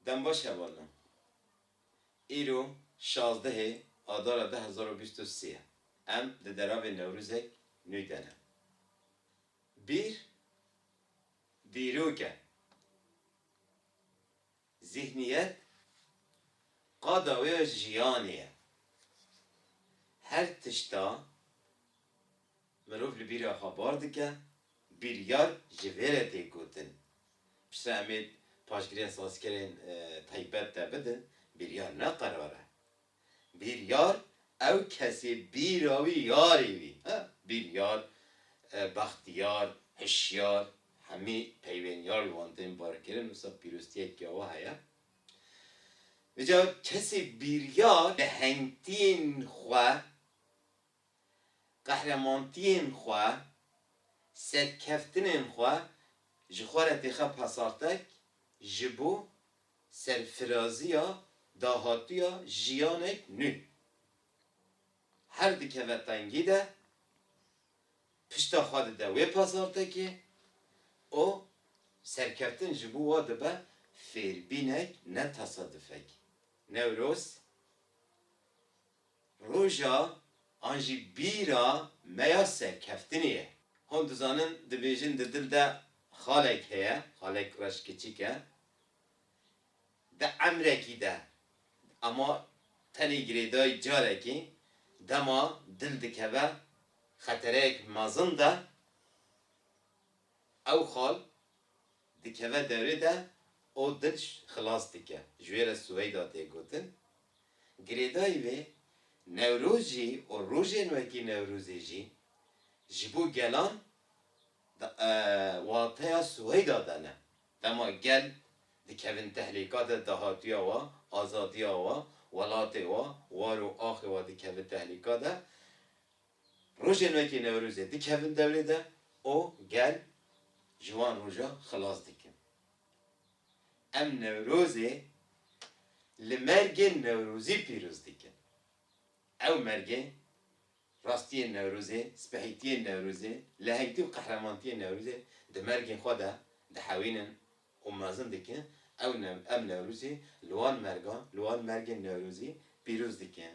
Dem baş heval min. Îro şazdehê Adara du hezar û bîst û sê ye. Em di deravê Newrûzek nû de ne. Bîr dîrok e. Zîhniyet qada wê ya jiyanê ye. Her tişta Mirov li bîra xwe bar dike, bîryar ji vê re tê gotin. Piştre em ê paşgirên sazkerên taybet te bidin, bîryar ne qerar e. Bîryar ew kesê bîra wî yarê wî e. Bîryar, bextiyar, hişyar hemî peyvên yar li wan tên barkirin, wisa pîroztiyek ya we heye. Îcar kesê bîryar bi hengtiyên xwe qehremantiyên xwe, serkeftinên xwe ji xwe re têxe pasartek ji bo serfiraziya dahatuya jiyanek nû. Her dikeve tengî de, pişta xwe dide wê pasartekê û serkeftin ji bo we dibe fêrbînek ne tesadufek. Newroz Roja an jî bîra me ya serkeftinê ye. Hûn dizanin dibêjin di dil de xalek heye, xalek reş kiçik e. Di emrekî de ema tenê girêdayî carekî dema dil dikeve xetereyek mezin de ew xal Dikeve derê de û dil xilas dike, ji wê re Suweyda tê gotin. Girêdayî vê Newrozî û rojên wekî Newrozê jî ji bo gelan di wateya Suweyda de ne. Dema gel dikevin tehlîka de dahatuya wa, azadiya wa, welatê wa, war û axê wa dikeve tehlîka de. Rojên wekî Newrozê dikevin dewrê de û gel ji wan roja xilas dikin. Em Newrozê li mergê Newrozî pîroz dikin. Ew mergê, rastiyên Newrozê, spehîtiyên Newrozê, lehektî û qehremantiyên Newrozê di mergên xwe de dihewînin û mezin dikin, ew em Newrozê li wan mergan, li wan mergên Newrozî pîroz dikin.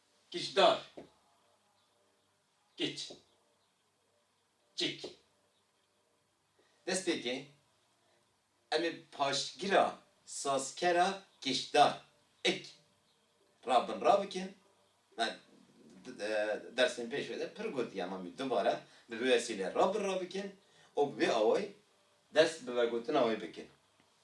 Giçdar, giç, cik. Destpêkê em ê paştgira sazkera giçdar, ik, ra bin ra bikin. Me di dersên pêşve de pir gotiye em anî dubare bi vê wesîleyê ra bin ra bikin û bi vê awayî dest bi vegotina wê bikin.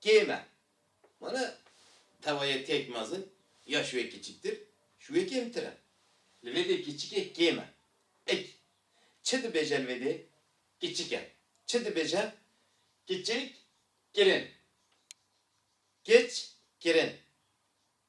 Kê me? Wene tewayê têk mezin ya şûyê kiçiktir, şûyê kêmtir e. Li vê dê kiçikê kê me. Ik. Çi dibêje li vê dê? Kiçik e. Çi dibêje? Kiçik kirin. Kiç kirin.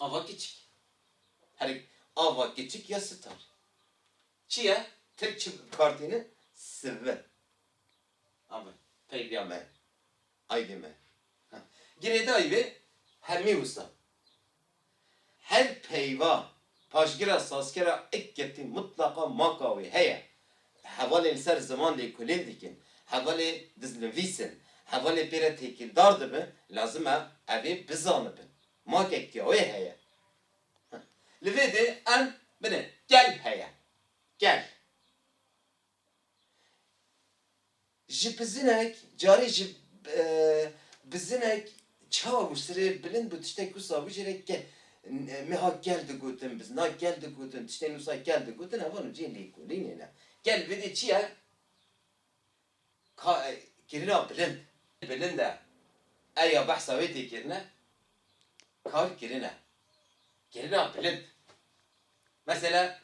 Ava kiçik. Herî ava kiçik ya sitar. Çi ye? Tirk çi kartîne? Sivi. Ava peyvîya me, aydê me. Girêdayî vê hemî wisa. Her peyva Paşgira sazkera ik ketî mutlaqa maka wê heye. Hevalên li ser ziman lê kulîn dikin, hevalê diznivîs in, hevalê pê re têkîldar dibin, lazim e ev ê bizanibin. Makek ya wê heye. Li vê dê em bilin gel heye. Gel. Ji bizinek carî ji bizinek çawa bû sirê bilind bû tiştek wisa bû jê re ke me hat kel digotin bizina kel digotin tiştên wisa kel digotin hevan in cihê lêkolînê ne kel vedê çi ye ka kirina bilind bilind e ew ya behsa wê tê kirine kar kirine kirina bilind. Mesela,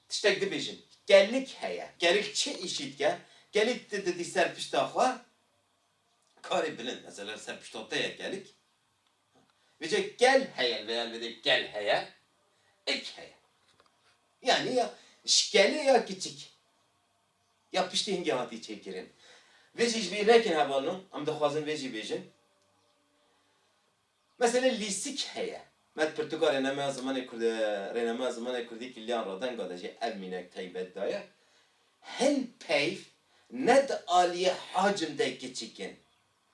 tiştek dibêjin, Gelik heye. Gelik çi îşî dike? Gelî di didî ser pişta xwe karê bilind. Mesela li ser pişta te ye gelik. Vê cih gel heye li vê ya li vê de gel heye. Ik heye. Yanî ya ji gelê ya kiçik. Ya piştî hingê hatî çêkirin. Vê jî ji bîr nekin hevalno. Em dixwazin vê jî bêjin. Meselê lîstik heye. Me di pirtûka rênameya zimanê kurdî rênameya zimanê kurdî kiliyan radenga de jî ev mînek taybet daye, Hin peyv ne di aliyê hacim de kiçik in.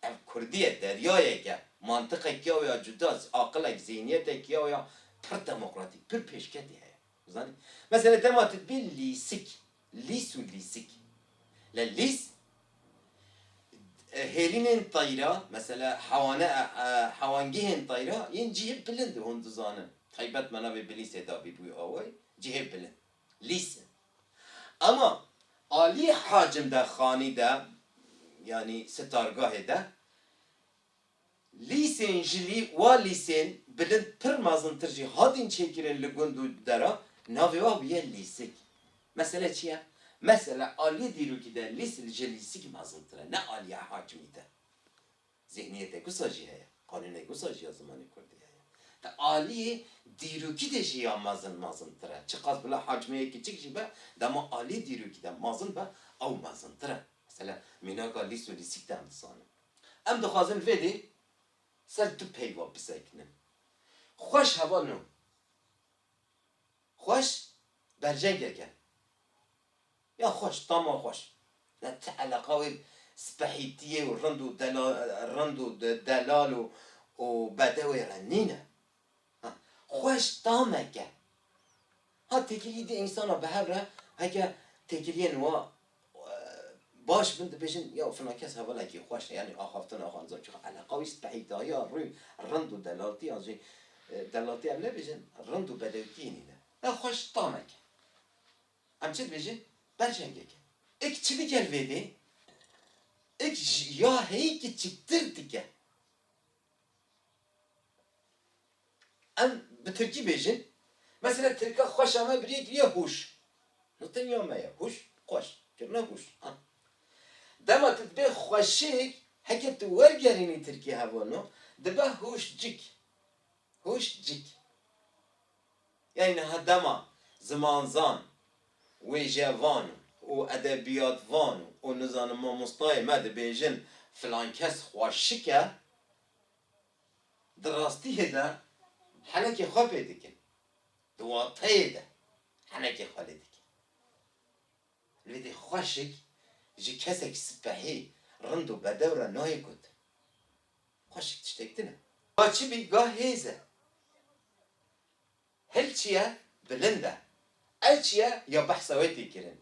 Ev kurdî ye, deryayek e. Mantiqek ya wê ya cuda, aqilek, zîhniyetek ya wê ya pir demokratîk, pir pêşketî heye. Zanî? Meselê dema tu dibî lîstik, Lîs û lîsik, li lîs hêrînên tayîra mesela hewane hewangehên tayîra yên cihê bilind e hûn dizanin taybet me navê bilîsê dabî bûye awayî cihê bilind lîs e ema aliyê hacim de xanî de yanî sitargahê de Lîsên ji lî wa lîsên bilind pir mezintir jî hatin çêkirin li gund û deran, navê wan bûye lîsik. Mesele çi ye? Mesele aliyê dîrokî de lîs ji lîsik mezintir e, ne aliya hakimî de. Zîhniyeteke wisa jî heye, qanûneke wisa jî ya zimanê kurdî heye. Di aliyê dîrokî de jî ya mezin mezintir e. Çiqas bila hakimiyeke kiçik jî be, dema aliyê dîrokî de mezin be, ew mezintir e. Mesele mînaka lîs û lîsik de em dizanin. Em dixwazin vê dê ser du peyva bisekinin. Xweş heva no. Xweş berjengek e. Ya xweş, tama xweş. Ya ti eleqa wê spehîtiyê û rind û delal û bedewê re nîne. Ha xweş tameke. Ha têkilî di însana bi hev re heke têkiliyên wa baş bin dibêjin ya fina kes hevalekî xweş e yanî axaftina xwe nizam çi eleqa wî spehî dahiya rû rind û delaltiyan jî delaltî em nebêjin rind û bedewtiyê nîne. Na xweş tameke. Em çi dibêjin berjengek e. Ik çi dike li vê dê? Ik ji ya heyî kiçiktir dike. Em bi tirkî bêjin, mesela tirka xweşa me bi rê kiriye hûş. No tenya me ye, hûş, xweş, kirina hûş. Dema tu dibê xweşik, heke tu wergerînî tirkî hevano, dibe hûşcik, hûşcik. Yayî niha dema zimanzan, wêjevan û edebiyatvan û nizanim mamostayê me dibêjin filan kes xwe şik e, di rastiyê de henekê xwe pê dikin, di wateyê de henekê xwe lê dikin. Lê dê xwe şik ji kesek spehî, rind û bedew re nayê gotin. Xweşik tiştek din e. Ga çi bî ga hêz e. Hil çi ye bilind e. Ew çi ye ya behsa wê tê kirin.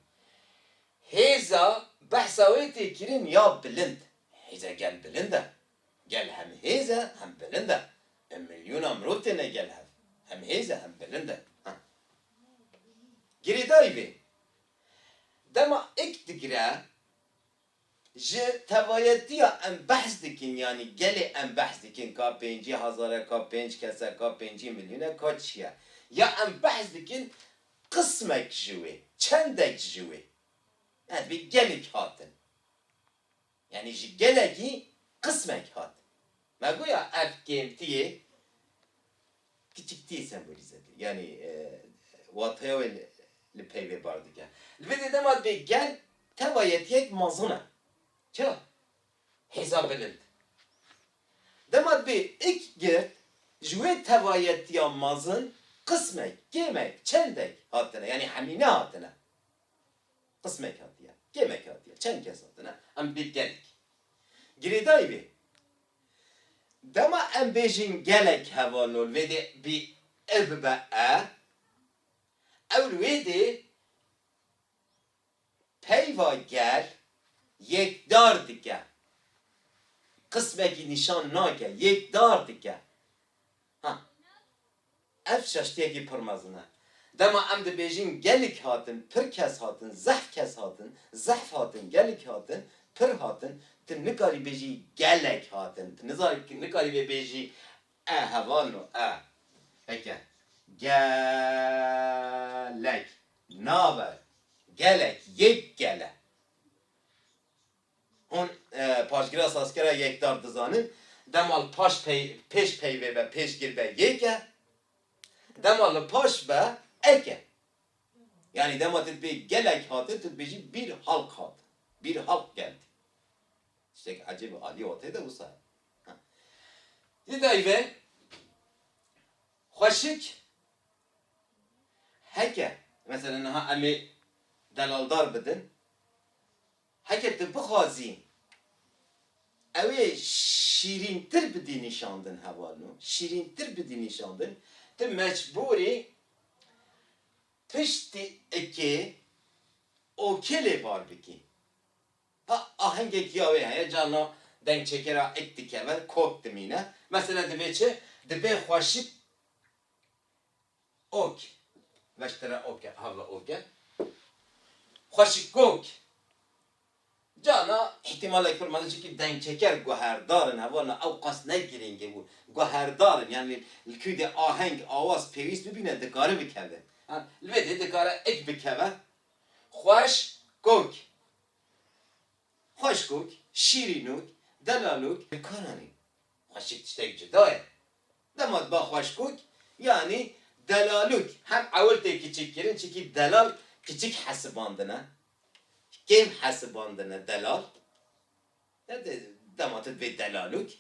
Hêza behsa wê tê kirin ya bilind. Hêza gel bilind e. Gel hem hêz e hem bilind e. Bi milyona mirov têne gel hev. Hem hêz e hem bilind e. Ha. Girêdayî vê. Dema ik digire Ji tevayetiya em behs dikin yanî gelê em behs dikin ka pêncî hezar e, ka pênc kes e, ka pêncî milyon e, ka çi ye? Ya em behs dikin qismek ji wê, çendek ji wê. Ev ê gelek hatin. Yanî ji gelekî qismek hat. Me goya ev kêmtiyê. Kiçiktî sembolîze dike. Yanî wateya wê li peyvê bar dike. Li vê sedema dê gel tewa yetiyek mezin e. Çira? Hêza bilind. Dema dibê ik girt, ji wê tewa yetiya mezin qismek, kêmek, çendek hatine. Yanî hemî nehatine. Qismek hatiye. Kêmek hatiye. Çend kes hatine. Em dibê gelek. Girêdayî wê. Dema em bêjin gelek heva nol vê dê bî e bibe e, ewil wê dê peyva gel yekdar dike, qismekî nîşan nake, yekdar dike. Ha. Ev çeştiyekî pir mezin e. Dema em dibêjin gelik hatin, pir kes hatin, zehf kes hatin, zehf hatin, gelik hatin, pir hatin, tu nikarî bêjî gelek hatin. Tu nizanî nikarî vê bêjî e heval no e. Heke. Ge-lek. Nabe. Gelek. Yek gele. Hûn paşgira sazkera yekdar dizanin, dema li paş pêş peyvê be, pêşgir be yêk e, dema li paş be ek e. Yanî dema tu dibê gelek hate, tu dibêjî bîr halk hat, bîr halk gel tî. Tiştek ecêb û alî watê de wisa ye. Di dayîvê xweşik heke, mesela niha em ê delaldar bidin, Heke tu bixwazî ewê şîrîntir bidî nîşandin heval no, şîrîntir bidî nîşandin, tu mecbûr î piştî ikê okê lê var bikî. Ha ahengekî ya wê heye, carna dengçekera ik dikeve, kok dimîne. Mesela divê çi? Divê xweşik Ok, meştera ok e, havla ok e. Xweşikok, Carna îhtîmalek pir mezin çimkî dengçeker guherdar in, heval na ew qas ne girîng e û guherdar in, yanî li ku dê aheng, awaz pêwîst bibîne dikare bikeve. Li vê dê dikare ik bikeve. Xweş kok, xweşkok, şîrînok, delalok. Dikare nîn. Xweşik tiştek cuda ye. Dema diba xweşkûk yanî delalûk hem ewil tê kiçikkirin çikî delal kiçik hesibandine, kêm hesibandine delal. Te dê dema tu dibê delalûk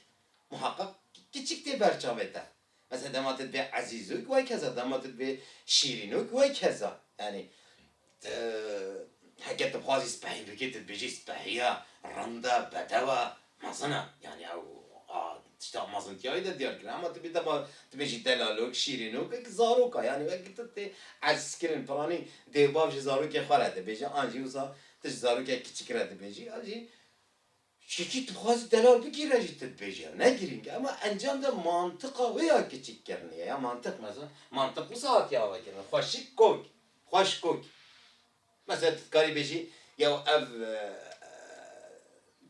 muheqeq kiçik tê ber çavê te. Mesela dema tu dibê ezîzûk weykeza dema tu dibê şîrînûk weykeza. Yanî Ti heke dixwazî spehî bikî tu dibêjî spehî ya rind e, bedew e, mezin e. Yanî ew a tişta mezintiyayî de diyar kiriye. Hema tu bî dema tu bêjî delalok, şîrînok wekî zarok e. Yanî wekî tu tê ez kirin piranî dêw bav ji zarokê xwe re dibêje an jî wisa tu ji zarokek kiçik re dibêjî an jî Çîkî dixwaze delal bigire jî tu dibêjî ev ne girîng e ema encam de mantiqa wê ya kiçik kirinê ye ya mantiq mesela mantiq wisa hatiye avekirin xweşik kok xweş kok mesela tu dikarî bêjî yew ev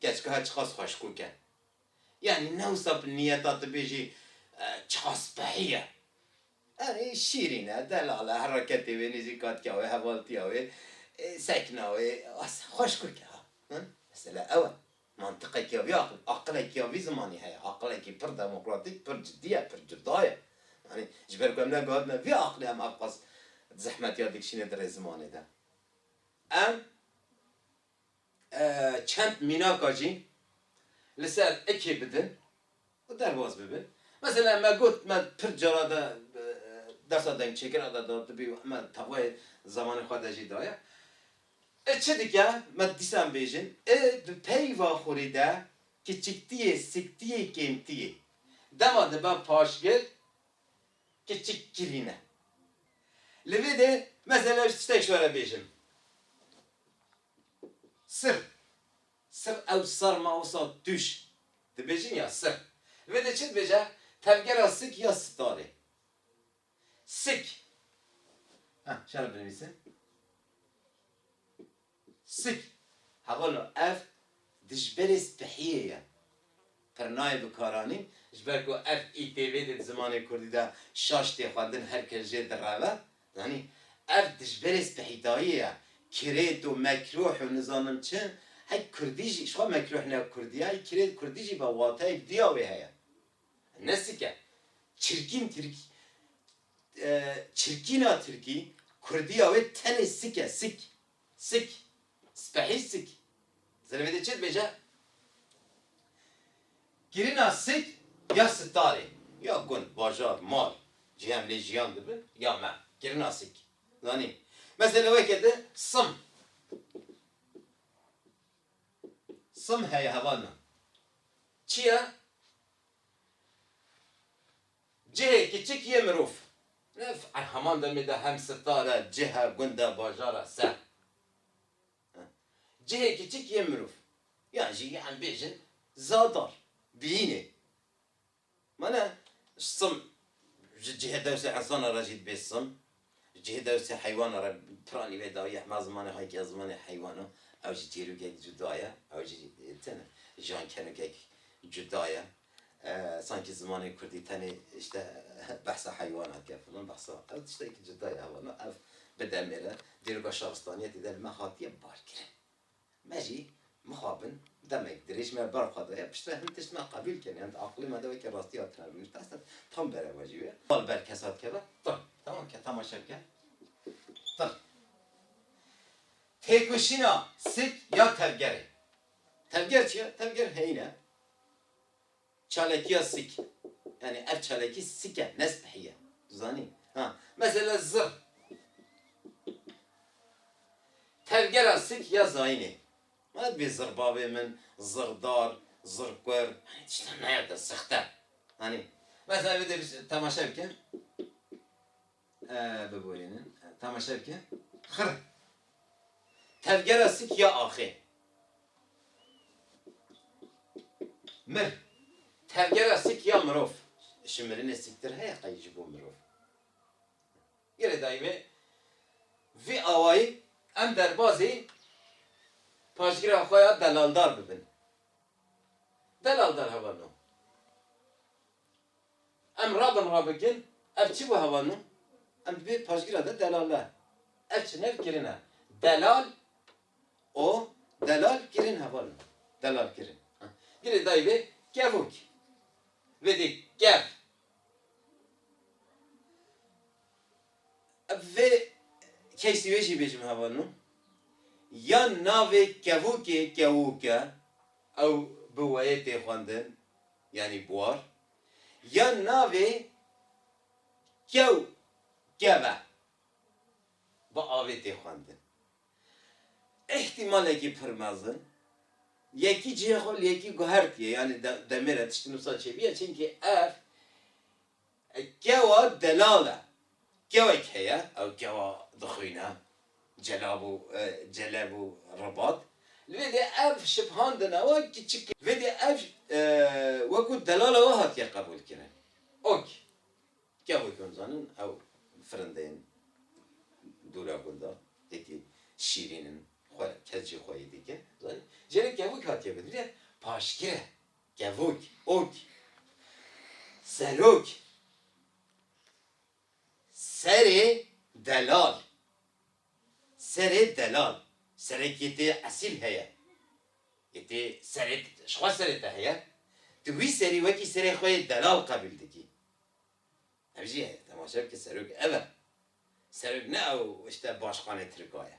keçikahe çiqas xweş kok e yanî ne wisa bi niyeta tu bêjî çiqas behî ye. Erê, şîrîn e, delal e, hereketê wê, nêzîkatiya wê, hevaltiya wê, sekna wê, asa xweş kurt e ha. Mesele ew e. Mantiqekiya vî aqil, aqilekiya vî zimanî heye. Aqilekî pir demokratîk, pir cidî ye, pir cuda ye. Yanî ji ber ku em neguhatine vî aqilê em ev qas zehmetiya dikişîne di rê zimanê de. Em Çend mînaka jî li ser ekê bidin û derbas bibin. Mesela me got me pir cara de dersa dengçêkirina de dadibî û me tawayê zemanê xwe de jî daye. Ê çi dike me dîsan bêjin ê di peyva xurî de kiçiktiyê siktiyê kêmtiyê. Dema dibe paşgir kiçik kirîn e. Li vê de mesela ji tiştek ji we re bêjim. Sir, sir ew sarma wisa tûş dibêjin ya sir. Li vê de çi dibêje tevgera sik ya sitarê. Sik, ha şere binivîsim. Pisîk, Hevalo ev dijberê spehiyê ye. Pirnayê bikaranî, ji ber ku ev îtv de di zimanê kurdî de şaş tê xwendin her kes jê direve, zanî ev dijberê spehîtayî ye. Kirêt û mekruh û nizanim çi, hey kurdî jî, ji xwe mekruh ne kurdî ye, hey kirêt kurdî jî be wateyek dûya wê heye. Nesike, çirkîn tirkî, Çirkîna tirkî, kurdîya wê tenê sik e, sik. Sik. Spehî sik. Zilê wê dê çi dibêje? Kirina sik ya sitarê, ya gund, bajar, mal, cihê em lê jiyan dibin, ya me. Kirina sik. Zanî? Mesela weke di sim. Sim heye hevalna. Çi ye? Cihê kiçik yê mirov. Ev a heman demê de hem star e, cih e, gund e, bajar e, ser. Cihê kiçik yê mirov. Yan jî yan bêjin zadar, biyînê. Mana sım ji cihê dewsê insana re jî dibê sım. Ji cihê dewsa heywana re piranî wê dawî ya hema zimanê xwe yekî ya zimanê heywana ew jî çîrokek cuda ye, ew jî tene jan kenokek cuda ye. Sankî zimanê kurdî tenê îşte behsa heywana dike filan behsa ew tiştekî cuda ye. Ew bi demê re dîroka şaristaniyetê de li me hatiye barkirin. Me jî mixabin demek dirêj me ber xwe daye piştre hin tişt me qebûl kir yan di aqilê me de weke rastiya tune rûnişt te hestet tam bere we jî wê bal ber kesa dikeve tir temam ke temaşe bike tir têkoşîna sik ya tevgerê tevger çi ye tevger heyîn e. Çalakiya sik, yanî ev çalakî sik e ne spehî ye. Tu zanî? Ha, mesela zir. Tevgera sik ya zayînê. Mana divê zir bavê min, zir dar, zir kur, yanî tişta naya de sixte. Anî? Mesela vê de temaşe bike. Biborînin, temaşe bikin. Xirr! Tevgera sik ya axê. Mir! Tevgera sik ya mirov. Ji mirinê sîktir heye qey ji bo mirov. Girêdayî wê vî awayî em derbazî paşgira xwe ya delaldar bibin. Delaldar hevalno. Em rabin rabikin, ev çi bû hewa nû? Em di vê paşgira de delal ne. Ev çinev kirin e. Delal û delal kirin hewa nû. Delal kirin. Dilê dayî vê kevûk. Vê dê kev. Ev vê keysî wê jî bêjim hewa nû. Ya navê kevûkê kewûk e. Ew bi weyê tê xwendin. yanî buar, ya navê kew, keve bi avê tê xwendin. Îhtîmalekî pir mezin, yekî cihê xwe li yekî guhertiye, yanî demê re tiştî nûsa çêbûye, çimkî ev Gewa delal e. Gewek heye ew gewa dixwîne celab û celeb û ribat. Li vê dê ev şiphandin ewa kiçik e. Vê dê ev wekû delal ewa hatiye qebûlkirin. Ok. Gevê ku em zanin ew firindeyên dûra gundan êdî şîrîn in xwe kes jî xwe yê dike. Zanîn. Jê re gevik hatiye gotin. Vê dê paşgir e. Kevok, ok. Serok, serê delal. Serê delal, serekê tê esîl heye. Yê tê serê, ji xwe serê te heye. Tu wî serî wekî serê xwe yê delal qebîl dikî. Ev jî temaşe bike serok ev e. Serok ne ew ji te başxanê tirka ye.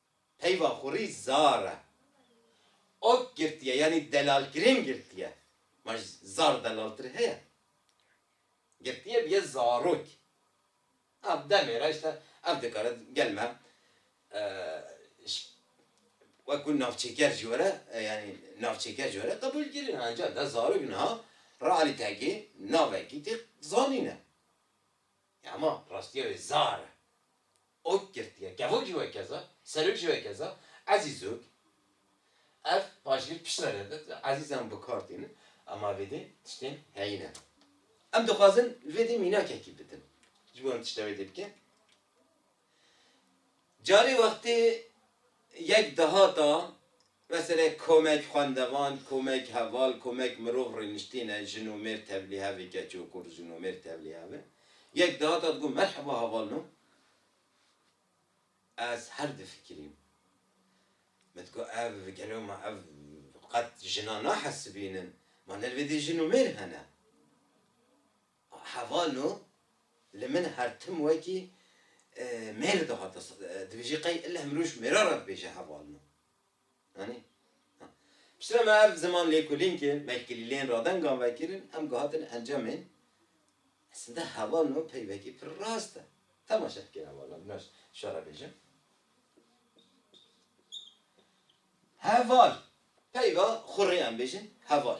Peyva xurî zar e. Ok girtiye yanî delalkirin girtiye. Ma ji zar delaltir heye. Girtiye bûye zarok. A demê re îşte ev dikare gel me ji wek ku navçêker jî were yanî navçêker jî were qebûlkirin e. Encam de zarok niha realîtekê navekî tê zanîne. Ya ma rastiye wê zar e. Ok girtiye. Kevok jî wek keza, serok jî wek keza, ezîz ok. Ev pajgir piştre re de ezîzan bi kar tînin em a vê dê tiştên heyî ne. Em dixwazin li vê dê mînakekî bidin ji bo em tişta wê dê bikin. Carê wextê yek dehata Meselê komek xwendevan, komek heval, komek mirov rêniştîn e, jin û mêr tevlî hev e, keç û kur, jin û mêr tevlî hev e. Yek dihata digot merheba heval no. Ez her difikirîm. Min digot ev gelo ma ev qet jinan nahesibînin. Ma li vê dî jin û mêr hene. Heval no li min her tim wekî mêr dihata dibêjî qey illeh mirov ji mêra re dibêje heval no. Anî? Ha. Piştre me ev ziman lêkolîn ke me ji kilîleyên radengan ve kirin, em gihatin encamên esinde heval no pey vekî pir rast e. Temaşe dike heval no, bina şara bêjim. Heval. Peyva xwe rê em bêjin heval.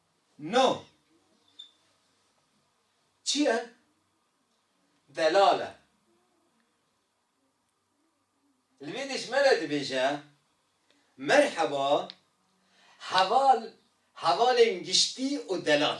No. Çi ye? Delal e. Li vê dijme de dibêje, Merheba, heval, hevalên giştî û delal.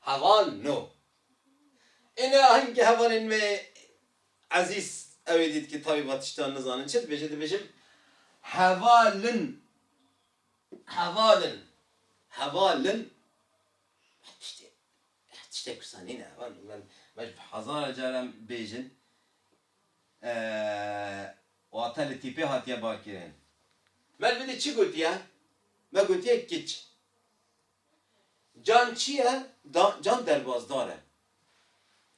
Heval no. Ê ne ahengê hevalên wê ezîz ewê dît ki tavî va tiştan nizanin çi dibêje dibêjim hevalin hevalin hevalin her tiştê her tiştê kursa nîne heval min me ji hezar caran bêjin wate li tîpê hatiye barkirin. Mel bidî çi gotiye me gotiye kiç. Can çi ye? Can derbazdar e.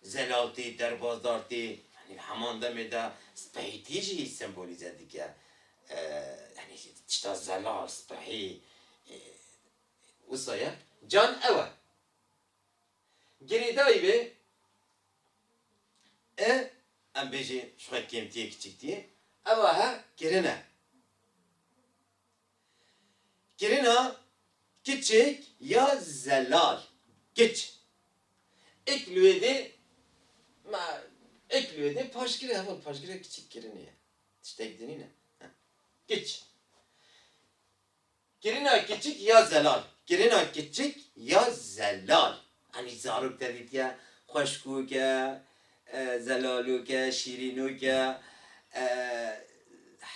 Zelal tê, derbazdar tê. Yanî heman demê de spehîtî jî sembolîze dike. Yanî tişta zelal, spehî wisa ye. Can ew e. Girêdayî vê i, em bêjin ji xwe kêmtî yê, kiçiktî yê, ew a he kirin e. Kirina kiçik ya zelal, kiç, ik lwêdê ma ik lwêdê paşgirê heval paşgirê kiçik kirinê ye. Tiştek dinî ne. Kiç. Kirina kiçik ya zelal. Kirina kiçik ya zelal. Hemî zarok tevî dike, xweşkok e, zelalok e, şîrînok e.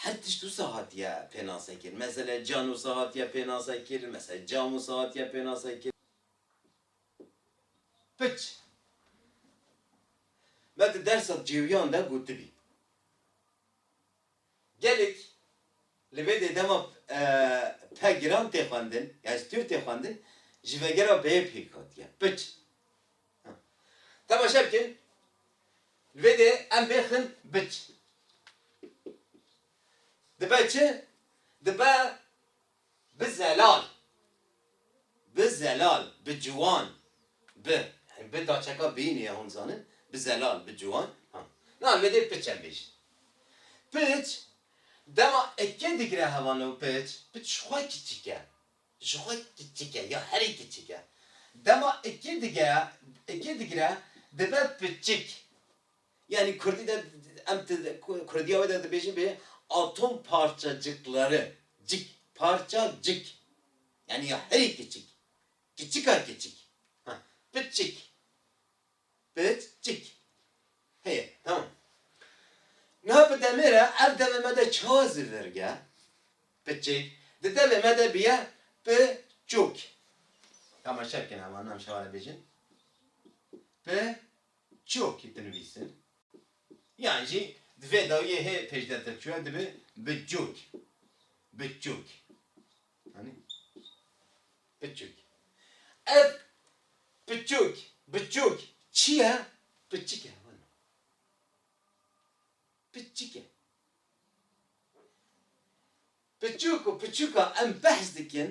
Her tişt wisa hatiye pênasekirin. Mesele can wisa hatiye pênasekirin, mesele cam wisa hatiye pênasekirin. Piç, me di dersa cêwiyan de gotibî. Gelek li vê dê dema pe giran tê xwendin yan ji tûr tê xwendin ji vegera beyê pêk hatiye piç. Temaşe bikin li vê dê em bê xin biç dibe çi dibe Bi zelal Bi zelal Bi ciwan Bi Bi daçeka bî nî ye hûn dizanin Bi zelal Bi ciwan Ha Na me dê piçe bêjin Piç dema eke digire hewa no piç Piç ji xwe kiçik e Ji xwe kiçik e ya herî kiçik e Dema eke digire dibe piçik. Yanî kurdî de em kurdiya wê de dibêjin bê atom parçacikleri, cik, parça cik yanî ya herî kiçik, kiçika kiçik, ha piçik, piç çik heye tamam. Niha bi demê re ev devê me de ça zivirge, piçik, di devê me de bîye pi çûk. Tamaşe bikin hevalina em şewa re bêjin. Pi û çiokî dinivîsin, yan jî di vê dawiyê hê pêşderte çûye dibe bi cûk, bi çûk. Anî? Bi çûk. Ev bi çûk, bi çûk çi ye? Bi çik e heval e. Bi çik e. Bi çûk û bi çûka em behs dikin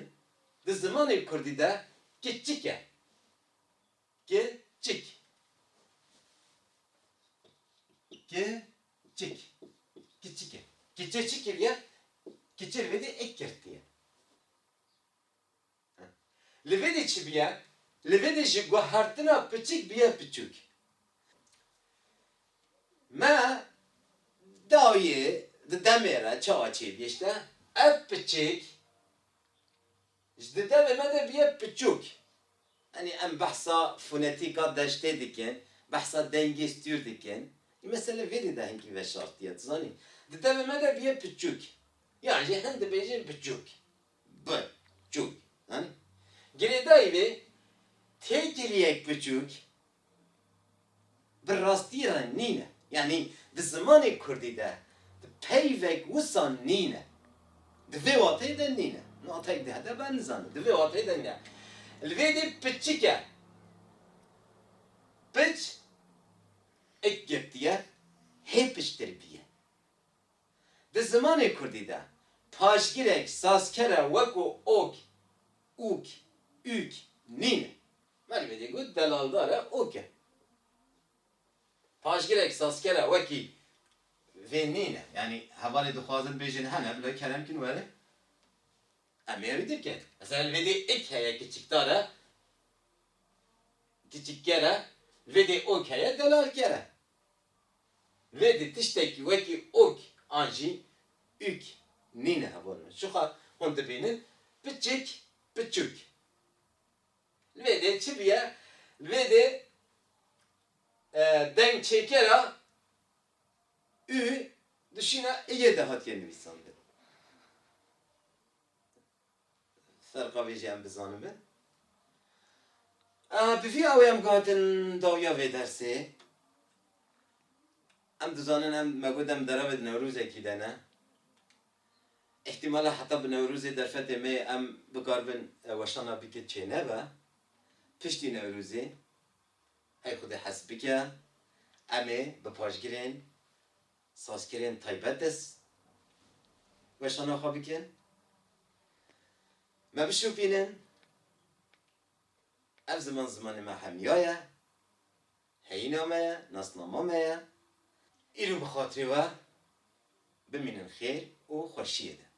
di zimanê kurdî de kiçik e. Ke çik Ke çik Kiçik e Kiçe çi kiriye Kiçe li vê dê êk girtiye Li vê dê çi biye Li vê dê ji guhertina piçik biye piçûk Me dayê di demê re çawa çêbîşte Ev piçik Ji di devê me de bûye piçûk. Yanî em behsa fonetîka deştê dikin, behsa dengê stûr dikin. Î mesele vêrî de hinkî veşartiye, tu zanî. Di devê me de bûye piçûk. Yan jî hin dibêjin biçûk. Bi. Çûk. Zanî? Girêdayî vê têkiliyek piçûk Bi rastî re nîn e. Yanî di zimanê kurdî de di peyvek wisa nîn e. Di vê wateyê de nîn e. Wateyek di hete ben nizane. Di vê wateyê de nîn e. Li vê dê piçik e. Piç ik girtiye hê piçtir bîye. Di zimanê kurdî de paşgirek sazkere weko ok, ûk, ûk nîn e. Melwîdê got delaldar e ok e. Paşgirek sazkera wekî vê nîne. Yanî hevalê dixwazin bêjin hene bila kerem kin were em ê ew dirkin. Mesela li vê dê ik heye kiçikdar e, kiçikger e, li vê dê ok heye delalker e. Li vê dê tiştekî wekî ok an jî ük nîne hevalên me. Şixa hûn dibînin piçik, piçûk. Li vê dê çi bûye? Li vê dê dengçêkera ü di şîna iyê de hatiye nivîsandin. Ferqa vê jî em bizanibin. A bi vî awê em guhatin dawiya vê dersê. Em dizanin em me got em deravê di newrozekî de ne. Îhtîmala heta bi Newrozê derfetê me yê em bikaribin weşana bike çênebe. Piştî Newrozê hey xwedê hez bike em ê bi paşgirên sazkirên taybet de weşana xwe bikin. Me bişopînin ev ziman zimanê me hemiya ye. Heyîna me ye, nasnama me ye. Îro bi xatirê we bimînin xêr û xweşiyê de.